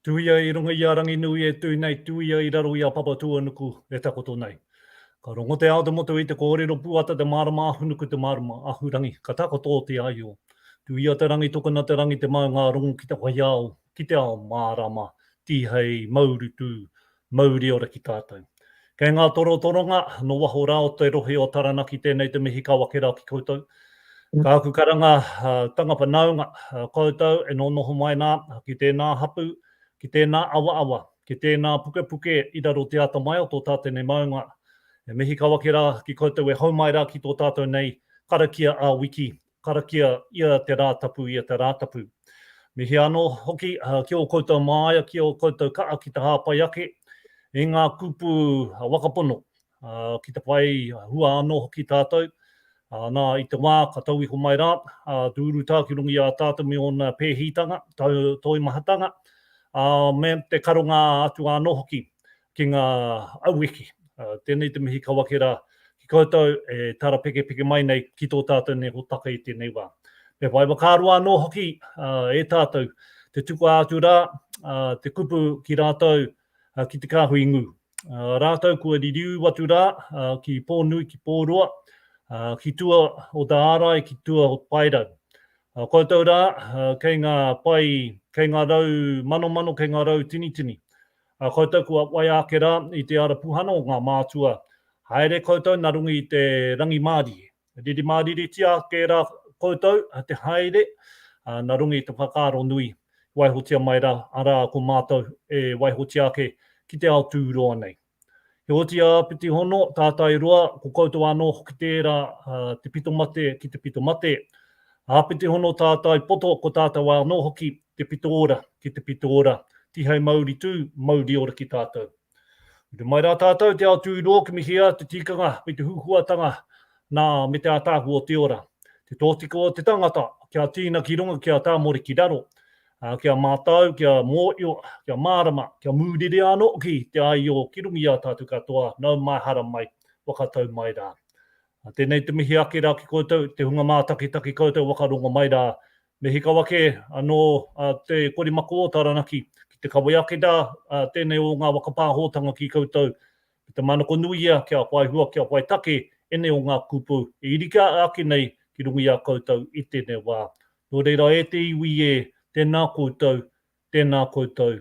Tuia i runga i a Ranginui e tū nei, tuia i raro i a Papatūānuku e takoto nei. Ka rongo te ao te motu i te kōrero pūata te mārama ahunuku te mārama ahurangi ka takoto te aio. Tuia te rangi tokona te rangi te maunga rongo ki te whaiao, ki te ao mārama, tihei, maurutu, Mauri ora ki tātou. Kei ngā torotoronga, nō waho rā o te rohe o Taranaki tēnei te mihi ka wakerau ki koutou. Ka aku karanga, tanga whanaunga, koutou e nōnoho mai nā, ki tēnā hapū, ki tēnā awaawa, ki tēnā pukepuke i raro te ata mai o tō tātene maunga. He mihi ka wakerā ki koutou e hau mai rā ki tō tātou nei karakia ā-wiki, Karakia ia te Rātapu ia te Rātapu. Me hea anō hoki ki ō koutou māia, ki ō koutou kaha ki te hāpai ake i ngā kupu waka pono, ki te whai hua anō hoki tātou, nā, i te wā ka tau iho mai rā te urutā ki runga i a tātou me ōna pēhitanga, toimahatanga, me te karonga atu anō hoki ki ngā aueke. Tēnei te mihi ka wake rā ki koutou e tarapekepeke mai nei ki tō tātou nei hōtaka i tēnei wā. Me whai whakaaro anō hoki e tātou te tukua atu rā te kupu ki rātou ki te kāhui ngū. Rātou kua ririū atu rā ki Pōnui, ki Pōroa, ki tua o te ārai, ki tua o te paerau. Koutou rā kei ngā pai, kei ngā rau manomano, kei ngā rau tinitini. A koutou kua waia ake rā i te ara puhana o ngā mātua, haere koutou nā runga i te rangimārie. Riri māriritia ake rā koutou te haere nā runga i te whakaaro nui, waihotia mai rā, arā, ko mātou e waihotia ake ki te ao tūroa nei. Heoti a Apiti Hono, Tātai Roa, ko koutou anō hoki tērā, te pito mate ki te pito mate. A Apiti Hono, Tātai Poto, ko tātou anō hoki Te pito ora, ki te pito ora, tihei mauri tū, mauri ora ki tātou. Rite mai rā tātou te ao tūrō ki Mihia, te tikanga me te huhuatanga nā me te ātaahua o te ora. Te tōtika o te tangata, kia tīna ki runga, kia tāmore ki raro, ā, kia mātau, kia mōhio, kia mārama, kia mūrere anō hoki te āio ki runga i a tātou katoa, nau mai, hara mai, waka tau mai rā. Tēnei te mihi ake rā ki koutou, te hunga mātakitaki koutou waka rongo mai rā Me hika wake anō te kori mako o Taranaki ki te kawea ake rā tēnei o ngā waka pāhotanga ki koutou me te manako nui ia kia whai hua, kia whai take ēnei o ngā kupu e iri ake nei ki runga i a koutou i tēnei wā. Nō reira e te iwi ē, tēnā koutou, tēnā koutou,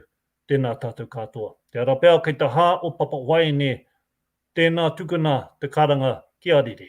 tēnā tātou katoa. Te ara pea kei te hā o Papa Waeine, tēnā tukuna te karanga ki a Rere.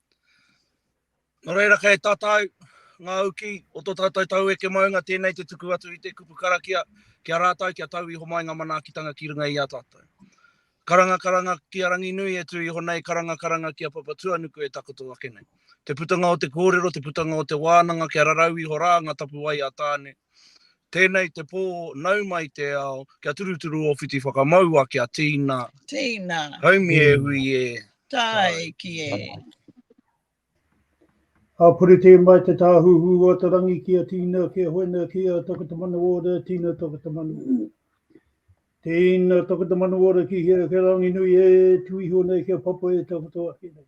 Nō reira kei tatau ngā uki o tō tātou taueke maunga tēnei te tuku atu i te kupu karakia ki a rātou kia tau iho mai ngā manaakitanga ki runga i a tātou. Karangakaranga ki a Ranginui e tū iho nei, karangakaranga ki a Papatuanuku e takoto ake nei. Te putanga o te kōrero, te putanga o te wānanga kia rarau iho rā ngā tapuwae a Tāne, Tēnei te pō nau mai te ao, kia turuturu ō whiti whakamaua kia tīna. Tīna. Haumi e hui e. Tae ki e. A puri tē mai te tāhuhu o te rangi ki a Tīna, ki a Hoena, ki a Tokotamanuora, Tīna Tokotamanuora. Tīna Tokotamanuora ki hea, ki rangi nui e, tu iho nei kia papa e takoto ake nei.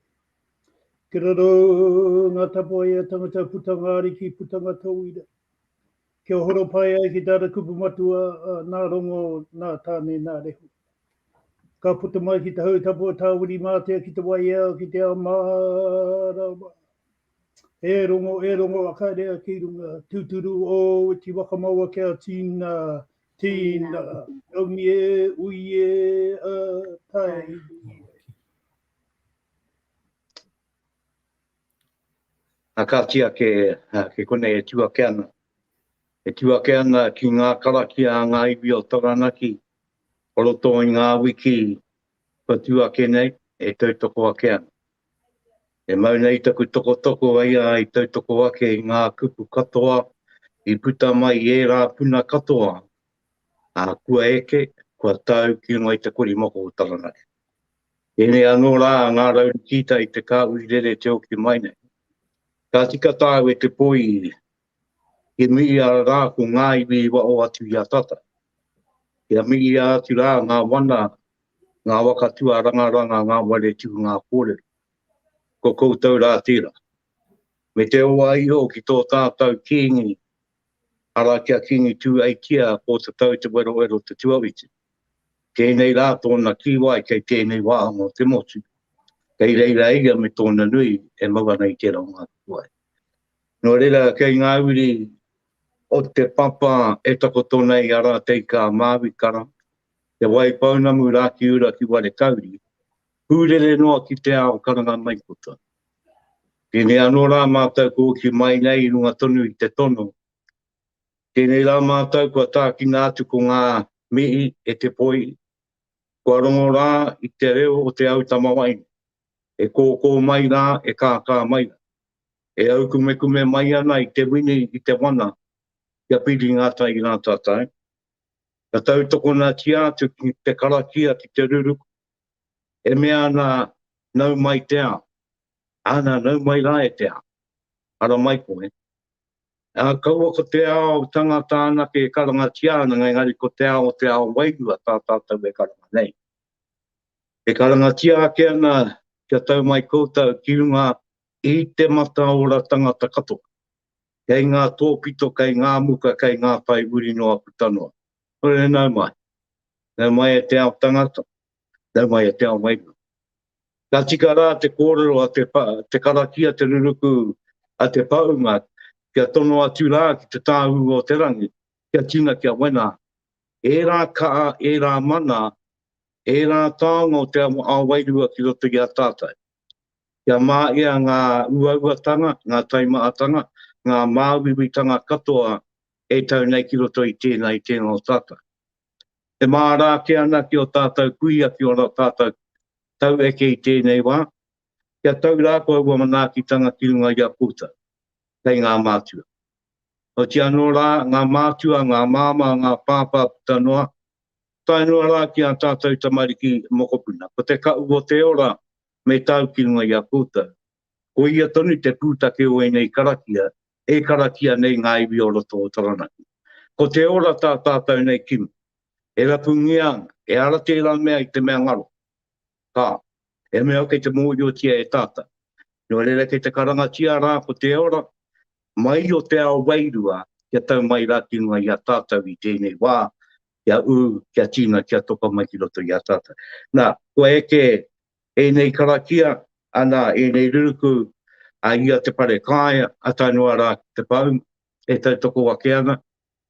Ki raro ngā tapuae a tangata putanga ariki, putanga tauira. Kia horo pai ai ki tāna kupu matua, nā Rongo, nā Tāne, nā Rehu. Ka puta mai ki te hau tapu a Tāwirimātea ki te waiao ki te ao mārama. E Rongo, e Rongo, akaerea ki runga, tūturu ōu iti whakamaua kia tīna, tīna, taungi e, ui e, ā, tae. Ā, ka kīa kē, kei konei e tū ake ana, e tū ake ana ki ngā karakia a ngā iwi o Taranaki o roto i ngā wiki kua tū ake nei, e tautoko ake ana. E mau nei taku tokotoko e ia i tautoko ake i ngā kupu katoa i puta mai i ērā puna katoa, ā, kua eke, kua tau ki runga i te korimako o Taranaki. Tēnei anō rā ngā raurikīta i te kāhui rere te oki mai nei. Ka tika tāu e te poi i ri. Ki miia rā ko ngā iwi i waho atu i a tata. Kia miia atu rā ngā wana, ngā waka tuarangaranga, ngā ware tū, ngā kōrero. Ko koutou rā tērā. Me te oa iho ki tō tātau Kīngi Ara ki a Kingi Tū Aikea ko ta tau te werowero te tuawiti. Tēnei rā tōna kīwai kei tēnei wāhanga o te motu. Kei reira ia me tōna nui e mau ana i tērā o ngā kīwai. Nō reira kei ngā uri o te papa e takoto nei a Rātei Kā Māui Kara, Te Wai Pounamu Rākiura ki Warekauri, hūrere noa ki te ao karanga maikota. Tēnei anō rā mātou kua hoki mai nei i runga tonu i te tono. Tēnei rā mātou kua tākina atu ko ngā mihi e te poi, kua rongo rā i te reo o te au tamawaine, e kōkō mai rā, e kākā mai rā, e aukumekume mai ana i te wini, i te wana, kia piri ngā tai rā tātou. Ka tautokona tia atu ki te karakia, ki te ruruku, e mea ana, Nau mai te ao. Ana, nau mai rā e te ao. Ara mai koe. Ā, kaua ko te ao tangata anake e karangatia ana, engari ko te ao o te ao wairua tā tātou e karanga nei. E karangatia ake ana kia tau mai koutou ki runga i te mataora tangata katoa, kei ngā tōpito, kei ngā muka, kei ngā whai uri noa puta noa. Hore nau mai. Nau mai e te ao tangata, nau mai e te ao wairua. Ka tika rā te kōrero a te, te karakia, te ruruku a te paunga, kia tono atu rā ki te tāu o te rangi, kia tina kia wena. E rā kaa, e rā mana, e rā taonga o te ao wairua ki roto i a tātou. Kia mā ea ngā uauatanga, ngā taimaatanga, ngā māuiuitanga katoa e tau nei ki roto i tēnā, i tēnā o tātou. E māra ake ana ki ō tātou kuia ki ō tātou tau eke i tēnei wā, kia tau rā koe aua manaakitanga ki runga i a koutou, kei ngā mātua. Oti anō rā, ngā mātua, ngā māmā, ngā pāpā puta noa, tae noa rā ki ā tātou tamariki mokopuna, ko te kaʻu o te ora me tau ki runga i a koutou. Ko ia tonu te pūtake o ēnei karakia e karakia nei ngā iwi o roto o Taranaki. Ko te ora tā tātou nei kimi. E rapungia ana, e ara tērā mea i te mea ngaro. Ka. He mea kei te mōhiotia e tātou. Nō reira kei te karangatia rā ko te ora mai o te ao wairua kia tau mai rā ki runga i a tātou i tēnei wā, kia ū, kia tīna, kia toka mai ki roto i a tātou. Nā, kua eke ēnei karakia, anā, ēnei ruruku a ia te wharekāea, a Tainua rā Te Pou, e tautoko ake ana,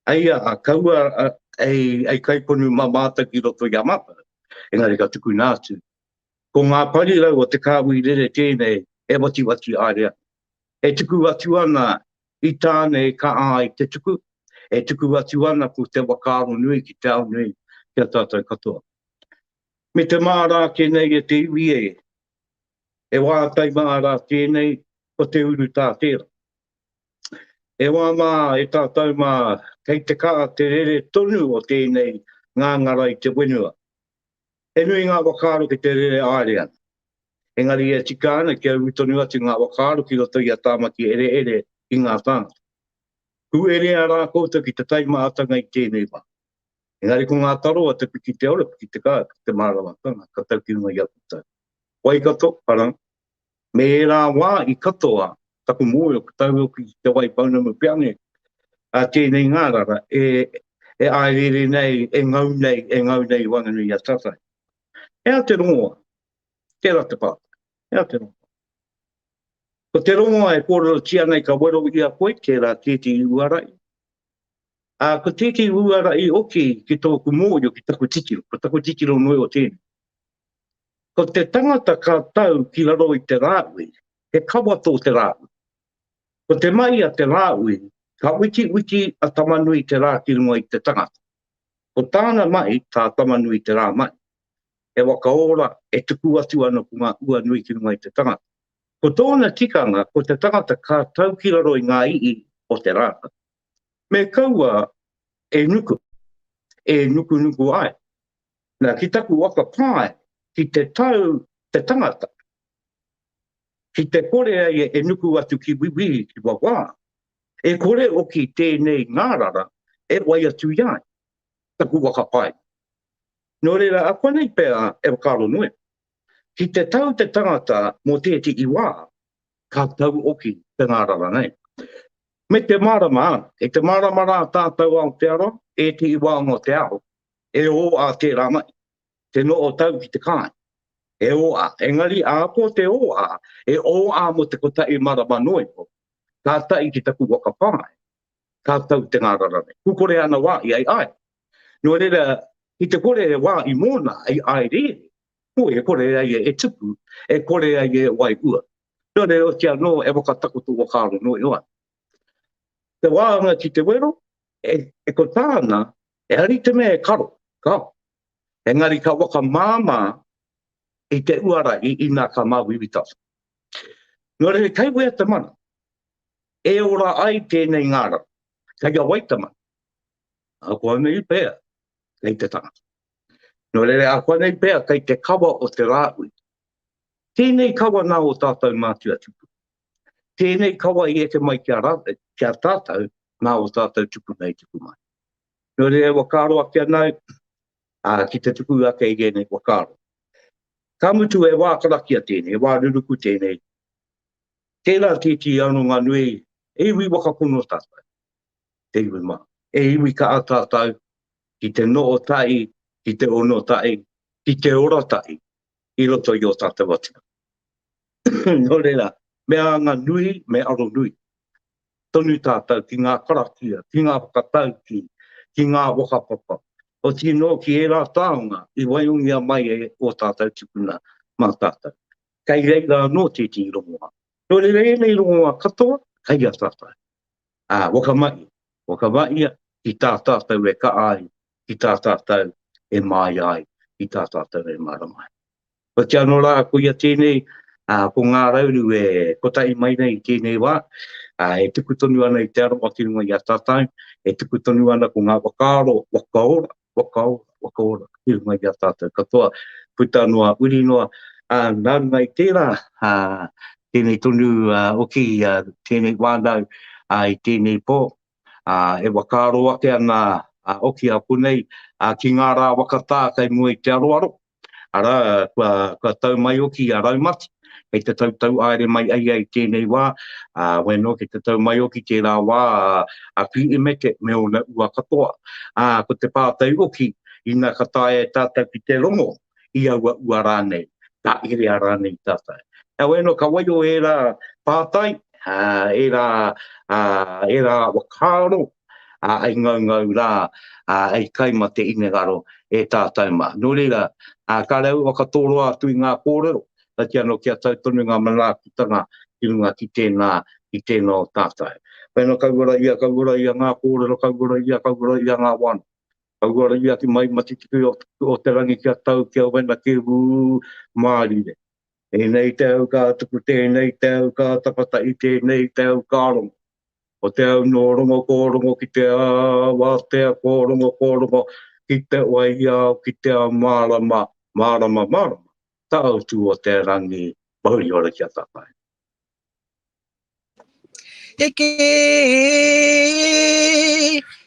eia a kaua hei kaiponu mā mātou ki roto i a mātou, engari ka tukuna atu. Ko ngā parirau o te kāhui rere tēnei e watiwati haere ana, e tuku atu ana i tāne e kaha ai te tuku, e tuku atu ana ko te whakaaro nui ki te ao nui ki a tātou katoa. Me te māra ake nei e te iwi e. E wā tai māra tēnei ko te uru tā tērā. E wā mā e tātou mā kei te kā te rere tonu o tēnei ngāngara i te wenua. He nui ngā whakaaro ki te rere āere ana. Engari e tika ana kia uru tonu atu ngā whakaaro ki roto i a Tāmaki Ereere ki ngā tāngata. Kū erea rā koutou ki te taimahatanga i tēnei wā. Engari ko ngā taro a Te Pikiteora, Pikitekā, ki te Māramatanga, ka tau ki runga i aku tau. Waikato, Parang, me ērā wā i katoa taku mōio ka tau hoki ki Te Waipounamu Peange, a tēnei ngārara e e āereere nei, e ngau nei, e ngau nei i Whanganui-a-Tawhai. He aha te rongoa? Tērā te pātai. He aha te rongoa? Ko te rongoa e kōrerotia nei ka wero i a koe tērā kēti i uara i, Ā, ko tētehi uara i oki ki tōku mōhio ki taku titiro, ko taku titiro nui o tēnei. Ko te tangata ka tau ki raro i te rāui, he kawa tō te rāui. Ko te mahi a te rāui, ka witiwiti a Tamanui te rā ki runga i te tangata. Ko tāna mahi, tā Tamanui te rā mahi. He waka ora e tuku atu ana ko ngā ua nui ki runga i te tangata. Ko tōna tikanga ko te tangata ka tau ki raro i ngā i'i o te rākau. Me kaua e nuku, e nukunuku ai. Na, ki taku waka pae, ki te tau te tangata, ki te kore ai e nuku atu ki Wiwi, ki Wawā, e kore oki tēnei ngārara e wai atu i ai, taku waka pae. No reira, akuanei pea e whakarongoe. Ki te tau te tangata mō tētehi wā, ka tauoki te ngārara nei. Me te mārama, kei te mārama rā tātou Aotearoa, ētehi wā mō te ao, e ō ā tērā mai, te noho tau ki te kāinga, e ō ā. Engari, ākō te ō ā, e ō ā mō te kotahi marama noa iho, kātahi ki taku waka pae, tātou te ngārara nei. Pūkore āna wā i aiaere. Nō reira, i te kore e wā i mōna i aereere, koi e kore ai e tupu, e kore ai e wairua. Nō reira, oti anō e whakatakoto whakaaro noa iho ana. Te wāanga ki te wero, e, e ko tāna, e ari te mea e karo, kao. Engari ka waka māmā i te uara i ina ka māwiwitasa. Nō reira, kei wea te mana? E ora ai tēnei ngārau. Kei a Waitama. Ākuanei pea, kei te tangata. Nō reira, ākuanei pea, kei te kawa o te Rāhui. Tēnei kawa nā ō tātou mātua tupuna. Tēnei kawa i eke mai ki a, ki a tātou nā ō tātou tupuna i tuku mai. Nō reira, e whakaaro ake ana au, ā, ki te tuku ake i ēnei whakaaro. Ka mutu, e wā karakia tēnei, e wā ruruku tēnei, Tēnā tētī aronga nui, e iwi whakapono tātou, te iwi mā. E iwi kaha tātou ki te noho tahi, ki te ono tahi, ki te ora tahi i roto i ō tātou atua. Nō reira, me anga nui, me aro nui tonu tātou ki ngā karakia, ki ngā whakataukī, ki ngā whakapapa, otirā anō ki ērā taonga i waihongia mai e ō tātou tipuna mā tātou. kei reira anō tētehi rongoā. Nō reira ēnei rongoā katoa kei a tātou. Ā, whakamahia, whakamahia ki tā tātou e kaha ai, ki tā tātou e māia ai, ki tā tātou e mārama ai. Hoki anō rā, koia tēnei, ā, ko Ngā Rauru e kotahi mai nei i tēnei wā, ā, e tuku tonu ana i te aroha ki runga i a tātou, e tuku tonu ana ko ngā whakaaro whakaora, Wakaora, wakaora i runga i a tātou katoa, puta noa, uri noa, ā, nā runga i tērā, ā, tēnei tonu hoki, tēnei wānau, ā, i tēnei pō, ā, e whakaaro ake ana hoki a konei, ā, ki ngā rā whakatā kei mua i te aroaro, Arā, kua, kua tau mai oki a Raumati, kei te tautau aere mai ai ai tēnei wā, ā, wai anō kei te tau mai oki tērā wā a Piimete me ōna ua katoa. Ā, ko te pātai oki, ina ka taea e tātou ki te rongo i aua ua rānei, ka herea rānei tātou. Heoi anō, ka waio ērā pātai, ā, ērā, ā, ērā whakaaro, ā, i ngaungau rā, ā, i kai mā te hinengaro e tātou mā. Nō reira, ā, kāre au ka tōroa atu i ngā kōrero, kaiti anō kia tau tonu ngā manaakitanga ki runga ki tēnā, ki tēnā o tātou. Pēnā kauora ia, kauora ia ngā kōrero, kauora ia, kauora ia ngā wānanga. Kauora ia ki mai matitiki o, o te rangi kia tau, kia wena, kia ū, mārire. Tēnei te au ka tuku, tēnei te au ka tapatahi, tēnei te au ka rongo. O te au nō rongo kō rongo ki te āwātea kō rongo kō rongo ki te waiao ki te ao mārama mārama mārama tāutu o te rangi mahuri ora ki a tātau. Heke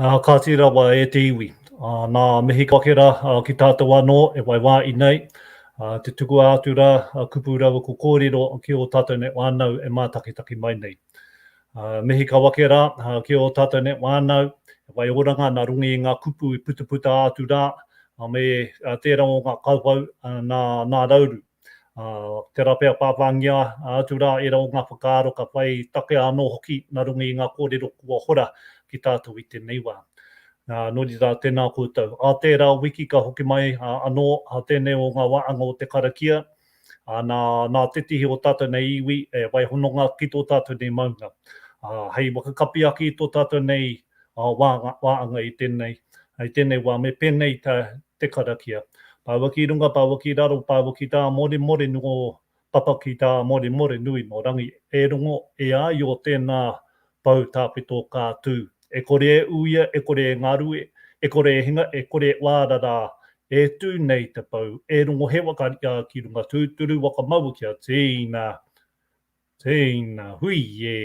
Ā, kāti rawa e te iwi, ā, nā Mehikawakera ki tātou anō e waiwāi nei, ā, te tukua atu rā, ā, kupu rawa ko kōrero ki ō tātou nei whānau e mātakitaki mai nei. Ā, Mehikawakera, ā, ki ō tātou nei whānau, e whai oranga nā runga i ngā kupu i putaputa atu rā, ā, me tērā o ngā kauwhau, ā, nā, nā Rauru. Tērā pea pāpāngia atu rā ērā o ngā whakaaro ka whai takea anō hoki nā runga i ngā kōrero kua hora ki tātou i tēnei wā. Nō reira, tēnā koutou. Ā tērā wiki ka hoki mai anō tēnei o ngā wāhanga o te karakia, nā, nā te tihi o tātou nei iwi e wai hononga ki tō tātou nei maunga. Hei whakakapi ake i tō tātou nei waanga i tenei, i tenei wa me penei ta te karakia. Paua ki runga, paua ki raro, paua ki ta Moremore no papa ki ta Moremore nui no rangi e rongo e ai o tena pou tapeto ka tu, e kore e uia, e kore e ngarue, e kore e hinga, e kore e waara ra, e tu nei te pou, e rongo he waka ria ki runga tuturu waka maua kia teina Tēina hui e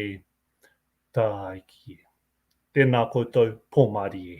Tāiki e. Tēnā koutou Pomari e.